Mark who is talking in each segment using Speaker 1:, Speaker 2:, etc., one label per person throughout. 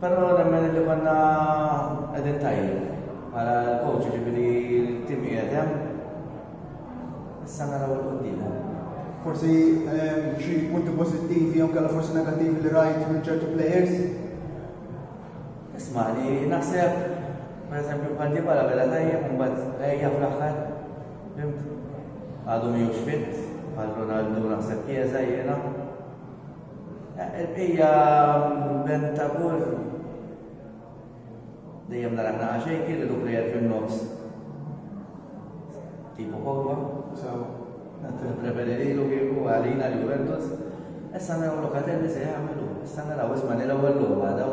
Speaker 1: Però nemmen li konna qegħdin tajjeb bħala l-coach ġifieri l-tim qiegħed hemm. Issa naraw il-qudiem. Forsi ehm, xi punti pożittivi jew kellha forsi negattivi li rajt minn ċertu players? Isma' li naħseb pereżempju bħal di bħala bella tajjeb mbagħad ejja fl-aħħar. Għadu miħux fit, bħal Ronaldo naħseb kieza jiena. Hija bent ta' golf. Dejjem nara naqa' xejn kien li duklejer fin-nofs. Tipo Pogba. Sawa. Preferi lilu kieku għalina li Juventus. Issa naraw Locatelli se jagħmlu. Issa naraw isma' nil-ewwel logħba daw.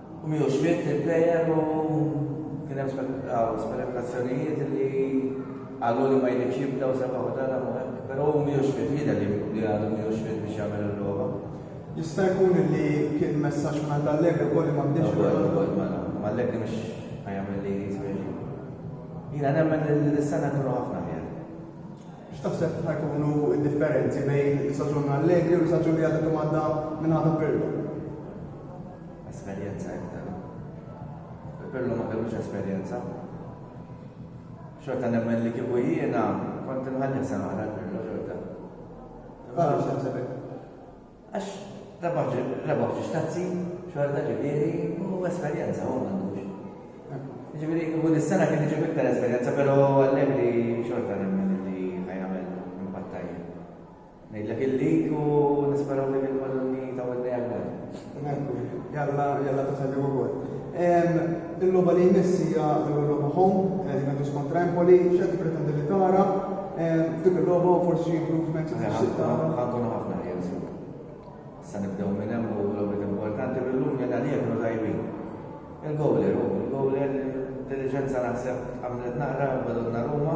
Speaker 1: u miegħu x'miet il-plejer u kien hemm spekulazzjonijiet li għallu li ma jridx jibda u sebaħ u dan u hekk, però hu miegħu x'miet jidher li għadu miegħu x'miet biex jagħmel il-logħba. Jista' jkun li kien messaġġ mingħand Allegri wkoll li ma bdiex Ronaldo? Allegri mhux ħajamel li jisweġi. Jiena nemmen li s-sena jkunu ħafna ħjar. X'taħseb li ħajkunu d-differenzi bejn l-istaġun allegri u l-istaġun li għadha kemm għadda min-naħa ta' Pirlo? Esperjenza iktar. Pirlo ma kellux esperjenza. Xorta nemmen li kieku jiena kont inħalli sena għal Pirlo xorta. Għaliex taħseb Għax rebaħ ġiex tazzi, xorta ġifieri, u esperjenza, u għandux. Ġifieri, u dis-sena kien iġib iktar esperjenza, pero għallegri xorta nemmen li ħajamel impattaj. Nejlek il-lik u nisperaw li bil-balloni ta' għodni għal-għod. Jalla, jalla ta' salli u għod. Il-logħba li jmiss hija l-ewwel logħba home, Juventus kontra Empoli, x'qed tippretendi li tara f'dik il-logħba u forsi xi improvements li tixtieq tara? Ħankunu ħafna ħin sur. Issa nibdew minn hemm u logħbiet importanti bil-lum li għalija kienu tajbin. Il-gowler hu, il-gowler intelliġenza naħseb għamlet naqra badonna Ruma.